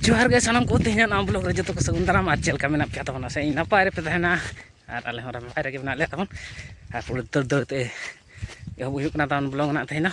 ᱡᱚᱦᱟᱨ ᱜᱮ ᱥᱟᱱᱟᱢ ᱠᱚ ᱛᱮᱦᱮᱧ ᱱᱟᱣᱟ ᱵᱞᱚᱜ ᱨᱮ ᱡᱚᱛᱚ ᱠᱚ ᱥᱟᱹᱜᱩᱱ ᱫᱟᱨᱟᱢ ᱟᱨ ᱪᱮᱫ ᱞᱮᱠᱟ ᱢᱮᱱᱟᱜ ᱯᱮᱭᱟ ᱛᱟᱵᱚᱱᱟ ᱥᱮ ᱤᱧ ᱱᱟᱯᱟᱭ ᱨᱮᱯᱮ ᱛᱟᱦᱮᱱᱟ ᱟᱨ ᱟᱞᱮ ᱦᱚᱸ ᱱᱟᱯᱟᱭ ᱨᱮᱜᱮ ᱢᱮᱱᱟᱜ ᱞᱮᱭᱟ ᱛᱟᱵᱚᱱ ᱟᱨ ᱯᱩᱨᱟᱹ ᱫᱟᱹᱲ ᱫᱟᱹᱲ ᱛᱮ ᱮᱦᱚᱵ ᱦᱩᱭᱩᱜ ᱠᱟᱱᱟ ᱛᱟᱵᱚᱱ ᱵᱞᱚᱜ ᱱᱟᱜ ᱛᱮᱦᱮᱧ ᱫᱚ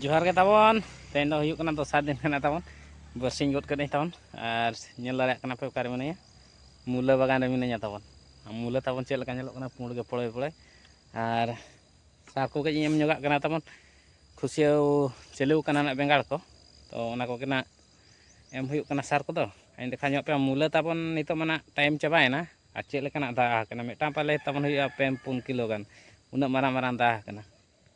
ᱡᱚᱦᱟᱨ ᱜᱮ ᱛᱟᱵᱚᱱ ᱛᱮᱦᱮᱧ ᱫᱚ ᱦᱩᱭᱩᱜ ᱠᱟᱱᱟ ᱫᱚᱥᱟᱨ ᱫᱤᱱ ᱠᱟᱱᱟ ᱛᱟᱵᱚᱱ ᱵᱟᱹᱨᱥᱤᱧ ᱜᱚᱫ ᱠᱟᱹᱫᱟᱹᱧ ᱛᱟᱵᱚᱱ ᱟᱨ ᱧᱮᱞ ᱫᱟᱲᱮᱭᱟᱜ ᱠᱟᱱᱟ ᱯᱮ ᱚᱠᱟᱨᱮ ᱢᱤᱱᱟᱹᱧᱟ ᱢᱩᱞᱟᱹ ᱵᱟᱜᱟᱱ ᱨᱮ ᱢᱤᱱᱟᱹᱧᱟ ᱛᱟᱵᱚᱱ ᱢᱩᱞᱟᱹ ᱛᱟᱵᱚᱱ ᱪᱮᱫ ᱞᱮᱠᱟ ᱧᱮᱞᱚᱜ ᱠᱟᱱᱟ ᱯᱩᱸᱰ ᱜᱮ ᱯᱚᱲᱚᱭ ᱯᱚᱲᱚᱭ ᱟᱨ ᱥᱟᱨ ᱠᱚ ᱠᱟᱹᱡ ᱤᱧ ᱮᱢ ᱧᱚᱜᱟᱜ ᱠᱟᱱᱟ ᱛᱟᱵᱚᱱ ᱠᱷᱩᱥᱭᱟᱹᱣ ᱪᱟᱹᱞᱩ ᱠᱟᱱᱟ ᱱᱟᱜ ᱵᱮᱸᱜᱟᱲ ᱠᱚ ᱛᱚ ᱚᱱᱟ ᱠᱚᱜᱮ ᱱᱟᱜ ᱮᱢ ᱦᱩᱭᱩᱜ ᱠᱟᱱᱟ ᱥᱟᱨ ᱠᱚᱫᱚ ᱟᱹᱧ ᱫᱮᱠᱷᱟ ᱧᱚᱜ ᱯᱮ ᱢᱩᱞᱟᱹ ᱛᱟᱵᱚᱱ ᱱᱤᱛᱚᱜ ᱢᱟ ᱱᱟᱜ ᱴᱟᱭᱤᱢ ᱪᱟᱵᱟᱭᱮᱱᱟ ᱟᱨ ᱪᱮᱫ ᱞᱮᱠᱟᱱᱟᱜ ᱫᱟᱜ ᱟᱠᱟᱱᱟ ᱢᱤᱫᱴᱟᱝ ᱯᱟᱞᱮ ᱛᱟᱵᱚᱱ ᱦᱩᱭᱩᱜᱼᱟ ᱯᱮ ᱯᱩᱱ ᱠᱤᱞᱳ ᱜᱟᱱ ᱩᱱᱟᱹᱜ ᱢᱟᱨᱟᱝ ᱢᱟᱨᱟᱝ ᱫᱟᱜ ᱟᱠᱟᱱᱟ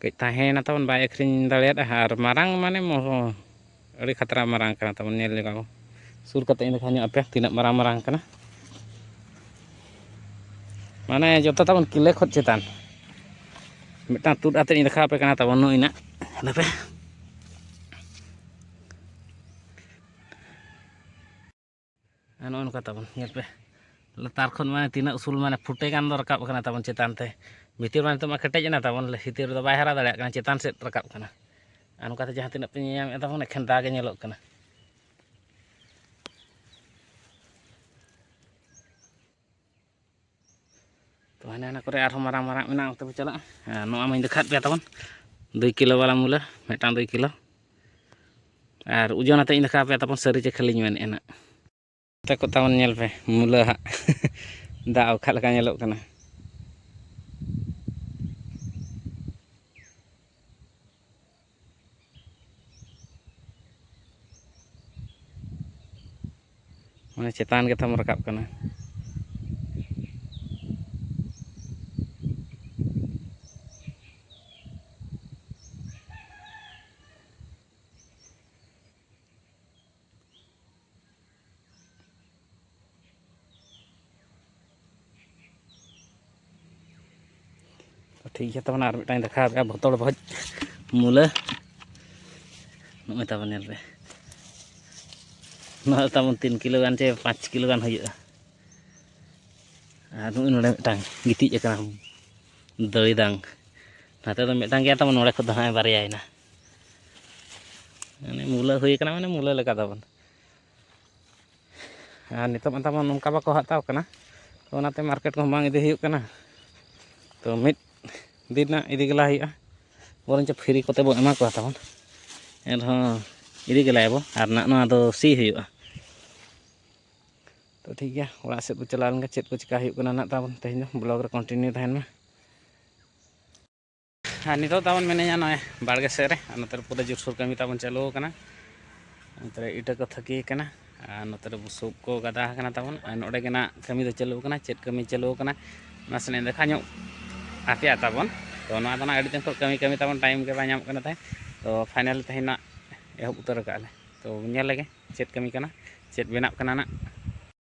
ᱠᱟᱹᱡ ᱛᱟᱦᱮᱸᱭᱮᱱᱟ ᱛᱟᱵᱚᱱ ᱵᱟᱭ ᱟᱹᱠᱷᱨᱤᱧ ᱫᱟᱲᱮᱭᱟᱫᱟ ᱟᱨ ᱢᱟᱨᱟᱝ ᱢᱟᱱᱮ ᱟᱹᱰᱤ ᱠᱷᱟᱛᱨᱟ ᱢᱟᱨᱟᱝ ᱠᱟᱱᱟ ᱛᱟᱵᱚᱱ ᱧᱮᱞ ᱞᱮᱜᱟ ᱵᱚᱱ ᱥᱩᱨ ᱠᱟᱛᱮ ᱤᱧ ᱫᱮᱠᱷᱟᱣ ᱧᱚᱜ ᱟᱯᱮ ᱛᱤᱱᱟᱹᱜ ᱢᱟᱨᱟᱝ ᱢᱟᱨᱟᱝ ᱠᱟᱱᱟ ᱢᱟᱱᱮ ᱡᱚᱛᱚ ᱛᱟᱵᱚᱱ ᱠᱤᱞᱮ ᱠᱷᱚᱱ ᱪᱮᱛᱟᱱ ᱢᱤᱫᱴᱟᱝ ᱛᱩᱫ ᱟᱛᱮ ᱤᱧ ᱫᱮᱠᱷᱟᱣ ᱟᱯᱮ ᱠᱟᱱᱟ ᱛᱟᱵᱚᱱ ᱱᱩᱭ ᱱᱟᱜ ᱫᱟᱯᱮ ᱱᱚᱜᱼᱚ ᱱᱚᱝᱠᱟ ᱛᱟᱵᱚᱱ ᱧᱮᱞ ᱯᱮ ᱞᱟᱛᱟᱨ ᱠᱷᱚᱱ ᱢᱟᱱᱮ ᱛᱤᱱᱟᱹᱜ ᱩᱥᱩᱞ ᱢᱟᱱᱮ ᱯᱷᱩᱴᱮ ᱜᱟᱱ ᱫᱚ ᱨᱟᱠᱟᱵ ᱠᱟᱱᱟ ᱛᱟᱵᱚᱱ ᱪᱮᱛᱟᱱ ᱛᱮ ᱵᱷᱤᱛᱤᱨ ᱢᱟ ᱱᱤᱛᱚᱜ ᱢᱟ ᱠᱮᱴᱮᱡ ᱮᱱᱟ ᱛᱟᱵᱚᱱ ᱵᱷᱤᱛᱤᱨ ᱨᱮᱫᱚ ᱵᱟᱭ ᱦᱟᱨᱟ ᱫᱟᱲᱮᱭᱟᱜ ᱠᱟᱱᱟ ᱪᱮᱛᱟᱱ ᱥᱮᱫ ᱨᱟᱠᱟᱵ ᱠᱟᱱᱟ ᱟᱨ ᱱᱚᱝᱠᱟᱛᱮ ᱡᱟᱦᱟᱸ ᱛᱤᱱᱟᱹᱜ ᱯᱮ ᱧᱮᱧᱟᱢᱮᱫ ᱛᱟᱵᱚᱱ ᱮᱠᱷᱮᱱ ᱫᱟᱜ ᱜᱮ ᱧᱮᱞᱚᱜ ᱠᱟᱱᱟ ᱛᱚ ᱦᱟᱱᱮ ᱦᱟᱱᱟ ᱠᱚᱨᱮ ᱟᱨᱦᱚᱸ ᱢᱟᱨᱟᱝ ᱢᱟᱨᱟᱝ ᱢᱮᱱᱟᱜᱼᱟ ᱚᱱᱛᱮ ᱵᱚ ᱪᱟᱞᱟᱜᱼᱟ ᱱᱚᱣᱟ ᱢᱟᱧ ᱫᱮᱠᱷᱟᱣᱮᱫ ᱯᱮᱭᱟ ᱛᱟᱵᱚᱱ ᱫᱩᱭ ᱠᱤᱞᱳ ᱵᱟᱞᱟ ᱢᱩᱞᱟᱹ ᱢᱤᱫᱴᱟᱝ ᱫᱩᱭ ᱠᱤᱞᱳ ᱟᱨ ᱳᱡᱚᱱ ᱟᱛᱮᱫ ᱤᱧ ᱫᱮᱠᱷᱟᱣ ᱯᱮᱭᱟ ᱛᱟᱵᱚᱱ ᱥᱟᱹᱨᱤ ᱪᱮ ᱠᱷᱟᱹᱞᱤᱧ ᱢᱮᱱᱮᱫᱼᱟ ᱱᱟᱜ ᱛᱮ ᱠᱚ ᱛᱟᱵᱚᱱ ᱧᱮᱞ ᱯᱮ ᱢᱩᱞᱟᱹ ᱦᱟᱸᱜ ᱫᱟᱜ ᱚᱠᱟ ᱞᱮᱠᱟ ᱧᱮᱞᱚᱜ ᱠᱟᱱᱟ ᱢᱟᱱᱮ ᱪᱮᱛᱟᱱ ᱜᱮ ᱛᱟᱢ ᱨᱟᱠᱟᱵ ᱠᱟᱱᱟ ᱴᱷᱤᱠ ᱜᱮᱭᱟ ᱛᱟᱵᱚᱱᱟ ᱟᱨ ᱢᱤᱫᱴᱟᱝ ᱫᱮᱠᱷᱟᱣ ᱯᱮᱭᱟ ᱵᱚᱛᱚᱲ ᱵᱷᱚᱡᱽ ᱢᱩᱞᱟᱹ ᱱᱚᱜᱼᱚᱭ ᱛᱟᱵᱚᱱ ᱧᱮᱞ ᱯᱮ ᱱᱚᱣᱟ ᱛᱟᱵᱚᱱ ᱛᱤᱱ ᱠᱤᱞᱳ ᱜᱟᱱ ᱪᱮ ᱯᱟᱸᱪ ᱠᱤᱞᱳ ᱜᱟᱱ ᱦᱩᱭᱩᱜᱼᱟ ᱟᱨ ᱱᱚᱜᱼᱚᱭ ᱱᱚᱰᱮ ᱢᱤᱫᱴᱟᱝ ᱜᱤᱛᱤᱡ ᱟᱠᱟᱱᱟ ᱫᱟᱹᱭᱫᱟᱝ ᱱᱟᱛᱮ ᱫᱚ ᱢᱤᱫᱴᱟᱝ ᱜᱮᱭᱟ ᱛᱟᱵᱚᱱ ᱱᱚᱰᱮ ᱠᱷᱚᱱ ᱫᱚ ᱦᱟᱸᱜ ᱵᱟᱨᱭᱟᱭᱮᱱᱟ ᱢᱟᱱᱮ ᱢᱩᱞᱟᱹ ᱦᱩᱭ ᱠᱟᱱᱟ ᱢᱟᱱᱮ ᱢᱩᱞᱟᱹ ᱞᱮᱠᱟ ᱛᱟᱵᱚᱱ ᱟᱨ ᱱᱤᱛᱚᱜ ᱢᱟ ᱛᱟᱵᱚᱱ ᱱᱚᱝᱠᱟ ᱵᱟᱠᱚ ᱦᱟᱛᱟᱣ ᱠᱟᱱᱟ ᱛᱚ ᱚᱱᱟᱛᱮ ᱢᱟᱨᱠᱮᱴ ᱠᱚᱦᱚᱸ ᱵᱟᱝ ᱤᱫᱤ ᱦᱩᱭᱩᱜ ᱠᱟᱱᱟ ᱛᱚ ᱢᱤᱫ ᱫᱤᱱ ᱨᱮᱱᱟᱜ ᱤᱫᱤ ᱜᱮᱞᱟ ᱦᱩᱭᱩᱜᱼᱟ ᱵᱚᱨᱚᱱᱪᱚ ᱯᱷᱨᱤ ᱠᱚᱛᱮ ᱵᱚᱱ ᱮᱢᱟ ᱠᱚᱣᱟ ᱛᱟᱵᱚᱱ ᱮᱱᱨᱮᱦᱚᱸ ᱤᱫᱤ ᱜᱮᱞᱟᱭᱟᱵᱚ ᱟᱨ ᱱᱟᱜ ᱱᱚᱣᱟ ᱫᱚ ᱥᱤ ᱦᱩᱭᱩᱜᱼᱟ ᱛᱚ ᱴᱷᱤᱠ ᱜᱮᱭᱟ ᱚᱲᱟᱜ ᱥᱮᱫ ᱵᱚ ᱪᱟᱞᱟᱣ ᱞᱮᱱᱜᱮ ᱪᱮᱫ ᱠᱚ ᱪᱮᱠᱟ ᱦᱩᱭᱩᱜ ᱠᱟᱱᱟ ᱱᱟᱜ ᱛᱟᱵᱚᱱ ᱛᱮᱦᱮᱧ ᱫᱚ ᱵᱞᱚᱜᱽ ᱨᱮ ᱠᱚᱱᱴᱤᱱᱤᱭᱩ ᱛᱟᱦᱮᱱ ᱢᱟ ᱟᱨ ᱱᱤᱛᱚᱜ ᱛᱟᱵᱚᱱ ᱢᱮᱱᱟᱹᱧᱟ ᱱᱚᱜᱼᱚᱭ ᱵᱟᱲᱜᱮ ᱥᱮᱫ ᱨᱮ ᱟᱨ ᱱᱚᱛᱮ ᱨᱮ ᱯᱩᱨᱟᱹ ᱡᱳᱨᱥᱳᱨ ᱠᱟᱹᱢᱤ ᱛᱟᱵᱚᱱ ᱪᱟᱹᱞᱩ ᱟᱠᱟᱱᱟ ᱱᱚᱛᱮ ᱨᱮ ᱤᱴᱟᱹ ᱠᱚ ᱛᱷᱟᱹᱠᱤ ᱟᱠᱟᱱᱟ ᱟᱨ ᱱᱚᱛᱮ ᱨᱮ ᱵᱩᱥᱩᱵ ᱠᱚ ᱜᱟᱫᱟ ᱟᱠᱟᱱᱟ ᱛᱟᱵᱚᱱ ᱟᱨ ᱱᱚᱰᱮ ᱜᱮ ᱱᱟᱜ ᱠᱟᱹᱢᱤ ᱫᱚ ᱪᱟᱹᱞᱩ ᱟᱠᱟᱱᱟ ᱪᱮᱫ ᱠᱟᱹᱢᱤ ᱪᱟᱹᱞᱩ ᱟᱠᱟᱱᱟ ᱱᱟᱥᱮᱱᱟᱜ ᱫᱮᱠᱷᱟ ᱧᱚᱜ ᱟᱯᱮᱭᱟ ᱛᱟᱵᱚᱱ ᱛᱚ ᱱᱚᱣᱟ ᱫᱚ ᱱᱟᱜ ᱟᱹᱰᱤ ᱫᱤᱱ ᱠᱷᱚᱱ ᱠᱟᱹᱢᱤ ᱠᱟᱹᱢᱤ ᱛᱟᱵᱚᱱ ᱴᱟᱭᱤᱢ ᱜᱮ ᱵᱟᱭ ᱧᱟᱢᱚᱜ ᱠᱟᱱᱟ ᱛᱟᱦᱮᱸᱫ ᱛᱚ ᱯᱷᱟᱭᱱᱟᱞ ᱛᱮᱦᱮᱧ ᱱᱟᱜ ᱮᱦᱚᱵ ᱩᱛᱟᱹᱨ ᱟᱠᱟᱫ ᱟᱞᱮ ᱛᱚ ᱧᱮᱞ ᱞᱮᱜᱮ ᱪᱮᱫ ᱠᱟᱹᱢᱤ ᱠᱟᱱᱟ ᱪᱮᱫ ᱵᱮᱱᱟᱜ ᱠᱟᱱᱟ ᱱᱟᱜ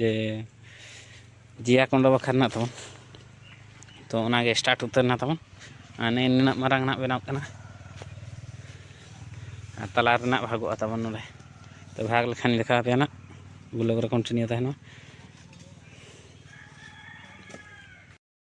ᱡᱮ ᱡᱮᱭᱟ ᱠᱚᱸᱰᱚ ᱵᱟᱠᱷᱨᱟ ᱨᱮᱱᱟᱜ ᱛᱟᱵᱚᱱ ᱛᱚ ᱚᱱᱟᱜᱮ ᱥᱴᱟᱨᱴ ᱩᱛᱟᱹᱨ ᱮᱱᱟ ᱛᱟᱵᱚᱱ ᱟᱨ ᱱᱮᱜᱼᱮ ᱱᱤᱱᱟᱹᱜ ᱢᱟᱨᱟᱝ ᱱᱟᱜ ᱵᱮᱱᱟᱣ ᱠᱟᱱᱟ ᱟᱨ ᱛᱟᱞᱟ ᱨᱮᱱᱟᱜ ᱵᱷᱟᱜᱚᱜᱼᱟ ᱛᱟᱵᱚᱱ ᱱᱚᱰᱮ ᱛᱚ ᱵᱷᱟᱜᱽ ᱞᱮᱠᱷᱟᱱ ᱫᱮᱠᱷᱟᱣ ᱟᱯᱮᱭᱟ ᱱᱟᱜ ᱵᱞᱚᱜᱽ ᱨᱮ ᱠᱚᱱᱴᱤᱱᱤᱭᱩ ᱛᱟᱦᱮᱱᱟ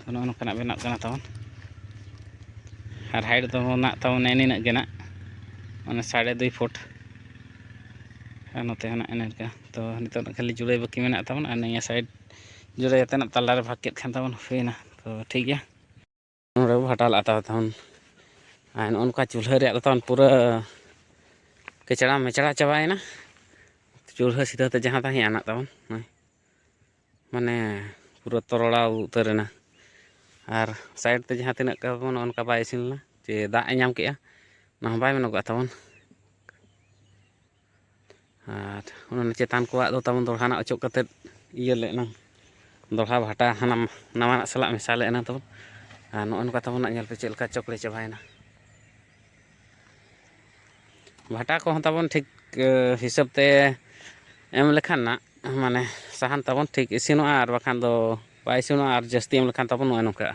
ᱛᱚ ᱱᱚᱜᱼᱚ ᱱᱚᱝᱠᱟᱱᱟᱜ ᱵᱮᱱᱟᱜ ᱠᱟᱱᱟ ᱛᱟᱵᱚᱱ ᱟᱨ ᱦᱟᱭᱤᱴ ᱫᱚ ᱱᱟᱜ ᱛᱟᱵᱚᱱ ᱱᱤᱱᱟᱹᱜ ᱜᱮ ᱱᱟᱜ ᱢᱟᱱᱮ ᱥᱟᱲᱮ ᱫᱩᱭ ᱯᱷᱩᱴ ᱟᱨ ᱱᱚᱛᱮ ᱦᱚᱸ ᱱᱟᱜ ᱤᱱᱟᱹ ᱞᱮᱠᱟ ᱛᱚ ᱱᱤᱛᱚᱜ ᱫᱚ ᱠᱷᱟᱹᱞᱤ ᱡᱩᱲᱟᱹᱭ ᱵᱟᱹᱠᱤ ᱢᱮᱱᱟᱜ ᱛᱟᱵᱚᱱᱟ ᱟᱨ ᱱᱤᱭᱟᱹ ᱥᱟᱭᱤᱰ ᱡᱩᱲᱟᱹᱭ ᱠᱟᱛᱮ ᱱᱟᱜ ᱛᱟᱞᱟᱨᱮ ᱵᱷᱟᱜᱽ ᱠᱮᱫ ᱠᱷᱟᱱ ᱛᱟᱵᱚᱱ ᱦᱩᱭᱱᱟ ᱛᱚ ᱴᱷᱤᱠ ᱜᱮᱭᱟ ᱱᱚᱰᱮ ᱵᱚ ᱵᱷᱟᱴᱟ ᱞᱟᱜᱼᱟ ᱛᱟᱵᱚ ᱛᱟᱵᱚᱱ ᱟᱨ ᱱᱚᱜᱼᱚ ᱱᱚᱝᱠᱟ ᱪᱩᱞᱦᱟᱹ ᱨᱮᱭᱟᱜ ᱫᱚ ᱛᱟᱵᱚᱱ ᱯᱩᱨᱟᱹ ᱠᱮᱪᱲᱟ ᱢᱮᱪᱲᱟ ᱪᱟᱵᱟᱭᱮᱱᱟ ᱪᱩᱞᱦᱟᱹ ᱥᱤᱫᱷᱟᱹ ᱛᱮ ᱡᱟᱦᱟᱸ ᱛᱟᱦᱮᱸ ᱟᱱᱟᱜ ᱛᱟᱵᱚᱱ ᱱᱚᱜᱼᱚᱭ ᱢᱟᱱᱮ ᱯᱩᱨᱟᱹ ᱛᱚᱨᱚᱲᱟᱣ ᱩᱛᱟᱹᱨ ᱮᱱᱟ ᱟᱨ ᱥᱟᱭᱤᱰ ᱛᱮ ᱡᱟᱦᱟᱸ ᱛᱤᱱᱟᱹᱜ ᱠᱟᱵᱚ ᱱᱚᱜᱼᱚ ᱱᱚᱝᱠᱟ ᱵᱟᱭ ᱤᱥᱤᱱ ᱞᱮᱱᱟ ᱪᱮ ᱫᱟᱜ ᱮ ᱧᱟᱢ ᱠᱮᱜᱼᱟ ᱚᱱᱟ ᱦᱚᱸ ᱵᱟᱭ ᱢᱮᱱᱚᱜᱚᱜᱼᱟ ᱛᱟᱵᱚᱱ ᱟᱨ ᱚᱱᱟ ᱪᱮᱛᱟᱱ ᱠᱚᱣᱟᱜ ᱫᱚ ᱛᱟᱵᱚᱱ ᱫᱚᱲᱦᱟ ᱱᱟᱜ ᱚᱪᱚᱜ ᱠᱟᱛᱮᱫ ᱤᱭᱟᱹ ᱞᱮ ᱮᱱᱟᱝ ᱫᱚᱲᱦᱟ ᱵᱷᱟᱴᱟ ᱦᱟᱱᱟ ᱱᱟᱣᱟᱱᱟᱜ ᱥᱟᱞᱟᱜ ᱢᱮᱥᱟ ᱞᱮ ᱮᱱᱟᱝ ᱛᱟᱵᱚᱱ ᱟᱨ ᱱᱚᱜᱼᱚ ᱱᱚᱝᱠᱟ ᱛᱟᱵᱚᱱ ᱧᱮᱞ ᱯᱮ ᱪᱮᱫ ᱞᱮᱠᱟ ᱪᱚᱠᱲᱮ ᱪᱟᱵᱟᱭᱮᱱᱟ ᱵᱷᱟᱴᱟ ᱠᱚᱦᱚᱸ ᱛᱟᱵᱚᱱ ᱴᱷᱤᱠ ᱦᱤᱥᱟᱹᱵ ᱛᱮ ᱮᱢ ᱞᱮᱠᱷᱟᱱ ᱱᱟᱜ ᱢᱟᱱᱮ ᱥᱟᱦᱟᱱ ᱛᱟᱵᱚᱱ ᱴᱷᱤᱠ ᱤᱥᱤᱱᱚᱜᱼᱟ ᱟᱨ ᱵᱟᱠᱷᱟᱱ ᱫᱚ ᱵᱟᱭ ᱤᱥᱤᱱᱚᱜᱼᱟ ᱟᱨ ᱡᱟᱹᱥᱛᱤ ᱮᱢ ᱞᱮᱠᱷᱟᱱ ᱛᱟᱵᱚᱱ ᱱᱚᱜᱼᱚᱭ ᱱᱚᱝᱠᱟᱜᱼᱟ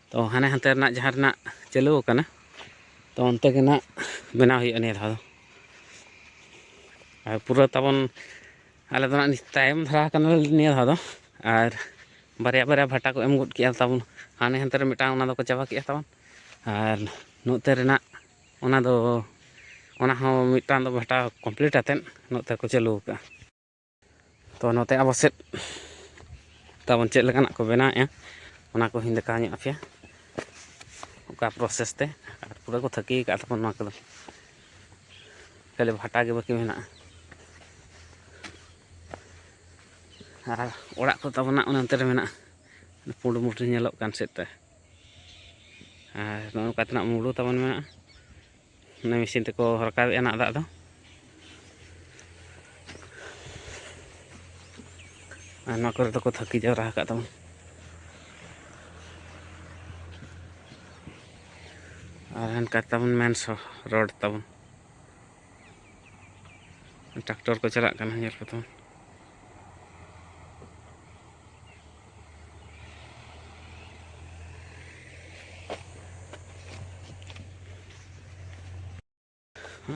ᱛᱚ ᱦᱟᱱᱮ ᱦᱟᱱᱛᱮ ᱨᱮᱱᱟᱜ ᱡᱟᱦᱟᱸ ᱨᱮᱱᱟᱜ ᱪᱟᱹᱞᱩ ᱟᱠᱟᱱᱟ ᱛᱚ ᱚᱱᱛᱮ ᱜᱮ ᱱᱟᱜ ᱵᱮᱱᱟᱣ ᱦᱩᱭᱩᱜᱼᱟ ᱱᱤᱭᱟᱹ ᱫᱷᱟᱣ ᱫᱚ ᱟᱨ ᱯᱩᱨᱟᱹ ᱛᱟᱵᱚᱱ ᱟᱞᱮ ᱫᱚ ᱱᱟᱜ ᱛᱟᱭᱚᱢ ᱫᱷᱟᱨᱟ ᱟᱠᱟᱱᱟᱞᱮ ᱱᱤᱭᱟᱹ ᱫᱷᱟᱣ ᱫᱚ ᱟᱨ ᱵᱟᱨᱭᱟ ᱵᱟᱨᱭᱟ ᱵᱷᱟᱴᱟ ᱠᱚ ᱮᱢ ᱜᱚᱫ ᱠᱮᱜᱼᱟ ᱛᱟᱵᱚᱱ ᱦᱟᱱᱮ ᱦᱟᱱᱛᱮ ᱨᱮ ᱢᱤᱫᱴᱟᱝ ᱚᱱᱟ ᱫᱚᱠᱚ ᱪᱟᱵᱟ ᱠᱮᱜᱼᱟ ᱛᱟᱵᱚᱱ ᱟᱨ ᱱᱚᱛᱮ ᱨᱮᱱᱟᱜ ᱚᱱᱟ ᱫᱚ ᱚᱱᱟ ᱦᱚᱸ ᱢᱤᱫᱴᱟᱝ ᱫᱚ ᱵᱷᱟᱴᱟ ᱠᱚᱢᱯᱞᱤᱴ ᱟᱛᱮᱫ ᱱᱚᱛᱮ ᱠᱚ ᱪᱟᱹᱞᱩ ᱟᱠᱟᱜᱼᱟ ᱛᱚ ᱱᱚᱛᱮ ᱟᱵᱚ ᱥᱮᱫ ᱛᱟᱵᱚᱱ ᱪᱮᱫ ᱞᱮᱠᱟᱱᱟᱜ ᱠᱚ ᱵᱮᱱᱟᱣᱮᱫᱼᱟ ᱚᱱᱟ ᱠᱚ ᱦᱤᱧ ᱫᱮᱠᱷᱟᱣ ᱧᱚᱜ ᱟᱯᱮᱭᱟ ᱚᱠᱟ ᱯᱨᱚᱥᱮᱥ ᱛᱮ ᱟᱨ ᱯᱩᱨᱟᱹ ᱠᱚ ᱛᱷᱟᱹᱠᱤ ᱟᱠᱟᱫ ᱛᱟᱵᱚᱱ ᱱᱚᱣᱟ ᱠᱚᱫᱚ ᱠᱷᱟᱹᱞᱤ ᱵᱷᱟᱴᱟ ᱜᱮ ᱵᱟᱹᱠᱤ ᱢᱮᱱᱟᱜᱼᱟ ᱟᱨ ᱚᱲᱟᱜ ᱠᱚ ᱛᱟᱵᱚᱱᱟ ᱚᱱᱮ ᱚᱱᱛᱮ ᱨᱮ ᱢᱮᱱᱟᱜᱼᱟ ᱯᱩᱸᱰ ᱢᱩᱴᱤ ᱧᱮᱞᱚᱜ ᱠᱟᱱ ᱥᱮᱫ ᱛᱮ ᱟᱨ ᱱᱚᱜᱼᱚ ᱱᱚᱝᱠᱟ ᱛᱮᱱᱟᱜ ᱢᱩᱰᱩ ᱛᱟᱵᱚᱱ ᱢᱮᱱᱟᱜᱼᱟ ᱚᱱᱟ ᱢᱮᱥᱤᱱ ᱛᱮᱠᱚ ᱨᱟᱠᱟᱵᱮᱜᱼᱟ ᱱᱟᱜ ᱫᱟᱜ ᱫᱚ ᱟᱨ ᱱᱚᱣᱟ ᱠᱚᱨᱮ ᱫᱚᱠᱚ ᱛᱷᱟᱹᱠᱤ ᱡᱟᱣᱨᱟ ᱟᱠᱟᱫ ᱛᱟᱵᱚᱱ ᱟᱨ ᱦᱟᱱᱠᱟ ᱛᱟᱵᱚᱱ ᱢᱮᱱ ᱨᱳᱰ ᱛᱟᱵᱚᱱ ᱴᱨᱟᱠᱴᱚᱨ ᱠᱚ ᱪᱟᱞᱟᱜ ᱠᱟᱱᱟ ᱧᱮᱞ ᱠᱚᱛᱟᱵᱚᱱ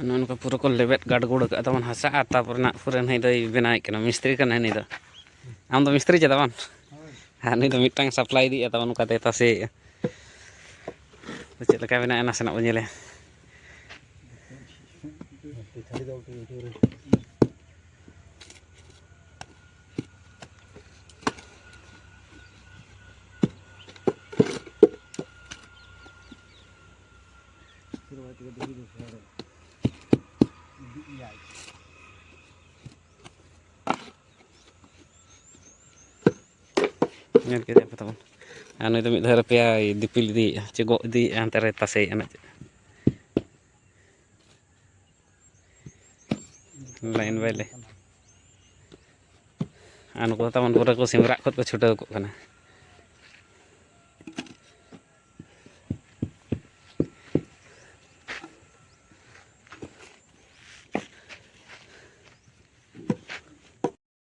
ᱱᱚᱝᱠᱟ ᱯᱩᱨᱟᱹ ᱠᱚ ᱞᱮᱵᱮᱫ ᱜᱟᱰᱜᱩᱲ ᱟᱠᱟᱫ ᱛᱟᱵᱚᱱ ᱦᱟᱥᱟ ᱟᱨ ᱛᱟᱨᱯᱚᱨᱮ ᱱᱟᱜ ᱯᱩᱨᱟᱹ ᱱᱩᱭ ᱫᱚᱭ ᱵᱮᱱᱟᱣᱮᱫ ᱠᱟᱱᱟ ᱢᱤᱥᱛᱨᱤ ᱠᱟᱱᱟᱭ ᱱᱩᱭ ᱫᱚ ᱟᱢ ᱫᱚ ᱢᱤᱥᱛᱨᱤ ᱪᱮᱫᱟ ᱵᱟᱝ ᱟᱨ ᱱᱩᱭ ᱫᱚ ᱢᱤᱫᱴᱟᱝ ᱥᱟᱯᱞᱟᱭ ᱤᱫᱤᱭᱮᱫ ᱛᱟᱵᱚᱱ ᱚᱱᱠᱟᱛᱮ ᱛᱟᱥᱮᱭᱮᱫᱼᱟ ᱪᱮᱫ ᱞᱮᱠᱟ ᱵᱮᱱᱟᱜᱼᱟ ᱱᱟᱥᱮᱱᱟᱜ ᱵᱚᱱ ᱧᱮᱞᱮ ᱧᱮᱞ ᱠᱮᱫᱮᱭᱟ ᱯᱮ ᱛᱟᱵᱚᱱ ᱟᱨ ᱱᱩᱭ ᱫᱚ ᱢᱤᱫ ᱫᱷᱟᱣ ᱨᱮᱯᱮᱭᱟᱭ ᱫᱤᱯᱤᱞ ᱤᱫᱤᱭᱮᱫᱼᱟ ᱪᱮ ᱜᱚᱜ ᱤᱫᱤᱭᱮᱫᱼᱟ ᱦᱟᱱᱛᱮ ᱨᱮ ᱛᱟᱥᱮᱭᱮᱫᱼᱟ ᱱᱟᱜ ᱞᱟᱭᱤᱱ ᱵᱟᱭ ᱞᱟᱭᱤᱱ ᱟᱨ ᱱᱩᱠᱩ ᱦᱚᱸ ᱛᱟᱵᱚᱱ ᱯᱩᱨᱟᱹ ᱠᱚ ᱥᱤᱢᱨᱟᱜ ᱠᱷᱚᱱ ᱠᱚ ᱪᱷᱩᱴᱟᱹᱣ ᱠᱚᱜ ᱠᱟᱱᱟ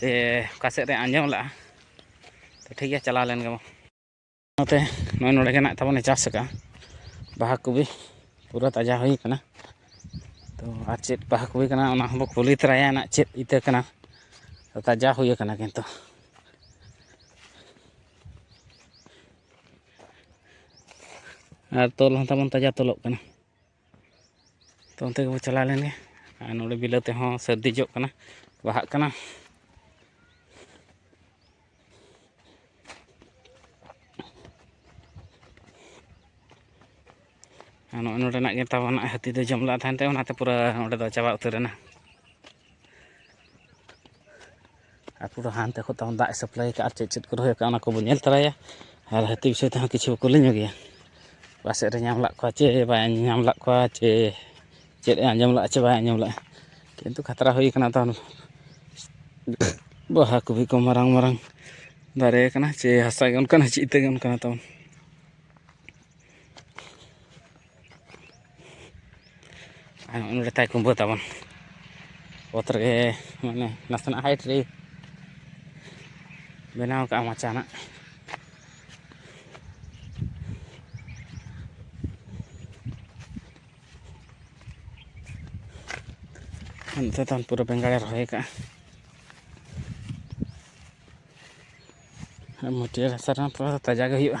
ᱥᱮ ᱚᱠᱟ ᱥᱮᱫ ᱨᱮ ᱟᱸᱡᱚᱢ ᱞᱟᱜᱼᱟ ᱛᱚ ᱴᱷᱤᱠ ᱜᱮᱭᱟ ᱪᱟᱞᱟᱣ ᱞᱮᱱ ᱜᱮᱵᱚᱱ ᱚᱱᱟᱛᱮ ᱱᱚᱜᱼᱚᱭ ᱱᱚᱰᱮ ᱜᱮ ᱱᱟᱜ ᱛᱟᱵᱚᱱᱮ ᱪᱟᱥ ᱟᱠᱟᱫᱼᱟ ᱵᱟᱦᱟ ᱠᱚᱜᱮ ᱯᱩᱨᱟᱹ ᱛᱟᱡᱟ ᱦᱩᱭ ᱠᱟᱱᱟ ᱛᱚ ᱟᱨ ᱪᱮᱫ ᱵᱟᱦᱟ ᱠᱚᱜᱮ ᱠᱟᱱᱟ ᱚᱱᱟ ᱦᱚᱸᱵᱚ ᱠᱩᱞᱤ ᱛᱚᱨᱟᱭᱟ ᱱᱟᱜ ᱪᱮᱫ ᱤᱛᱟᱹ ᱠᱟᱱᱟ ᱛᱟᱡᱟ ᱦᱩᱭ ᱠᱟᱱᱟ ᱠᱤᱱᱛᱩ ᱟᱨ ᱛᱚᱞ ᱦᱚᱸ ᱛᱟᱵᱚᱱ ᱛᱟᱡᱟ ᱛᱚᱞᱚᱜ ᱠᱟᱱᱟ ᱛᱚ ᱚᱱᱛᱮ ᱜᱮᱵᱚᱱ ᱪᱟᱞᱟᱣ ᱞᱮᱱᱜᱮ ᱟᱨ ᱱᱚᱰᱮ ᱵᱤᱞᱟᱹᱛᱤ ᱦᱚᱸ ᱥᱟᱹᱨᱫᱤ ᱡᱚᱜ ᱠᱟᱱᱟ ᱵᱟᱦᱟᱜ ᱠᱟᱱᱟ ᱟᱨ ᱱᱚᱜᱼᱚᱭ ᱱᱚᱰᱮᱱᱟᱜ ᱜᱮ ᱛᱟᱵᱚᱱ ᱦᱟᱹᱛᱤ ᱫᱚᱭ ᱡᱚᱢ ᱞᱮᱫ ᱛᱟᱦᱮᱱ ᱛᱮ ᱚᱱᱟᱛᱮ ᱯᱩᱨᱟᱹ ᱚᱸᱰᱮ ᱫᱚ ᱪᱟᱵᱟ ᱩᱛᱟᱹᱨᱮᱱᱟ ᱟᱨ ᱯᱩᱨᱟᱹ ᱦᱟᱱᱛᱮ ᱠᱷᱚᱱ ᱛᱟᱵᱚᱱ ᱫᱟᱜ ᱮ ᱥᱟᱯᱞᱟᱭ ᱠᱟᱜᱼᱟ ᱟᱨ ᱪᱮᱫ ᱪᱮᱫ ᱠᱚ ᱨᱚᱦᱚᱭ ᱠᱟᱜᱼᱟ ᱚᱱᱟ ᱠᱚᱵᱚᱱ ᱧᱮᱞ ᱛᱚᱨᱟᱭᱟ ᱟᱨ ᱦᱟᱹᱛᱤ ᱵᱤᱥᱚᱭ ᱛᱮᱦᱚᱸ ᱠᱤᱪᱷᱩ ᱠᱚ ᱞᱟᱹᱭ ᱧᱚᱜᱮᱭᱟ ᱚᱠᱟ ᱥᱮᱫ ᱨᱮ ᱧᱟᱢ ᱞᱮᱫ ᱠᱚᱣᱟ ᱪᱮ ᱵᱟᱭ ᱧᱟᱢ ᱞᱮᱫ ᱠᱚᱣᱟ ᱪᱮ ᱪᱮᱫ ᱮ ᱟᱸᱡᱚᱢ ᱞᱮᱫᱼᱟ ᱪᱮ ᱵᱟᱭ ᱟᱸᱡᱚᱢ ᱞᱮᱫᱼᱟ ᱠᱤᱱᱛᱩ ᱠᱷᱟᱛᱨᱟ ᱦᱩᱭ ᱠᱟᱱᱟ ᱛᱚ ᱵᱟᱦᱟ ᱠᱚᱜᱮ ᱠᱚ ᱢᱟᱨᱟᱝ ᱢᱟᱨᱟᱝ ᱫᱟᱨᱮ ᱠᱟᱱᱟ ᱪᱮ ᱦᱟᱥᱟ ᱜᱮ ᱚᱱᱠᱟᱱᱟ ᱪᱮᱫ ᱤᱛᱟᱹ ᱜᱮ ᱚᱱᱠᱟᱱᱟ ᱛᱟᱵᱚᱱ ᱟᱨ ᱱᱚᱸᱰᱮ ᱛᱟᱭ ᱠᱩᱢᱵᱟᱹ ᱛᱟᱵᱚᱱ ᱚᱛ ᱨᱮᱜᱮ ᱢᱟᱱᱮ ᱱᱟᱥᱮᱱᱟᱜ ᱦᱟᱭᱤᱴ ᱨᱮ ᱵᱮᱱᱟᱣ ᱠᱟᱜᱼᱟ ᱢᱟᱪᱟ ᱱᱟᱜ ᱱᱚᱛᱮ ᱛᱟᱢ ᱯᱩᱨᱟᱹ ᱵᱮᱸᱜᱟᱲᱮ ᱨᱚᱦᱚᱭ ᱠᱟᱜᱼᱟ ᱢᱟᱹᱴᱭᱟᱹᱲ ᱦᱟᱥᱟ ᱨᱮᱦᱚᱸ ᱛᱷᱚᱲᱟ ᱫᱚ ᱛᱟᱡᱟ ᱜᱮ ᱦᱩᱭᱩᱜᱼᱟ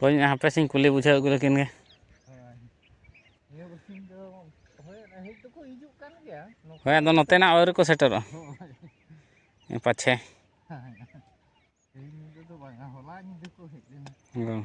ᱦᱳᱭ ᱦᱟᱯᱮ ᱥᱮᱧ ᱠᱩᱞᱤ ᱵᱩᱡᱷᱟᱹᱣ ᱟᱹᱜᱩ ᱞᱮᱠᱤᱱ ᱜᱮ ᱦᱳᱭ ᱟᱫᱚ ᱱᱚᱛᱮᱱᱟᱜ ᱟᱹᱣᱨᱤ ᱠᱚ ᱥᱮᱴᱮᱨᱚᱜᱼᱟ ᱯᱟᱪᱷᱮ ᱦᱮᱸ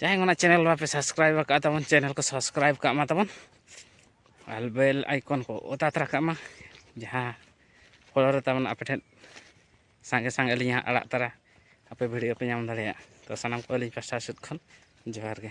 ᱡᱟᱦᱟᱸᱭ ᱚᱱᱟ ᱪᱮᱱᱮᱞ ᱵᱟᱯᱮ ᱥᱟᱵᱥᱠᱨᱟᱭᱤᱵ ᱟᱠᱟᱫ ᱛᱟᱵᱚᱱ ᱪᱮᱱᱮᱞ ᱠᱚ ᱥᱟᱵᱥᱠᱨᱟᱭᱤᱵ ᱠᱟᱜ ᱢᱟ ᱛᱟᱵᱚᱱ ᱟᱨ ᱵᱮᱞ ᱟᱭᱠᱚᱱ ᱠᱚ ᱚᱛᱟ ᱛᱟᱨᱟ ᱠᱟᱜ ᱢᱟ ᱡᱟᱦᱟᱸ ᱯᱷᱚᱞᱚ ᱨᱮ ᱛᱟᱵᱚᱱ ᱟᱯᱮ ᱴᱷᱮᱱ ᱥᱟᱸᱜᱮ ᱥᱟᱸᱜᱮ ᱟᱹᱞᱤᱧ ᱦᱟᱸᱜ ᱟᱲᱟᱜ ᱛᱟᱨᱟ ᱟᱯᱮ ᱵᱷᱤᱰᱤᱭᱳ ᱯᱮ ᱧᱟᱢ ᱫᱟᱲᱮᱭᱟᱜ ᱛᱚ ᱥᱟᱱᱟᱢ ᱠᱚ ᱟᱹᱞᱤᱧ ᱯᱟᱥᱴᱟ ᱥᱮᱫ ᱠᱷᱚᱱ ᱡᱚᱦᱟᱨ ᱜᱮ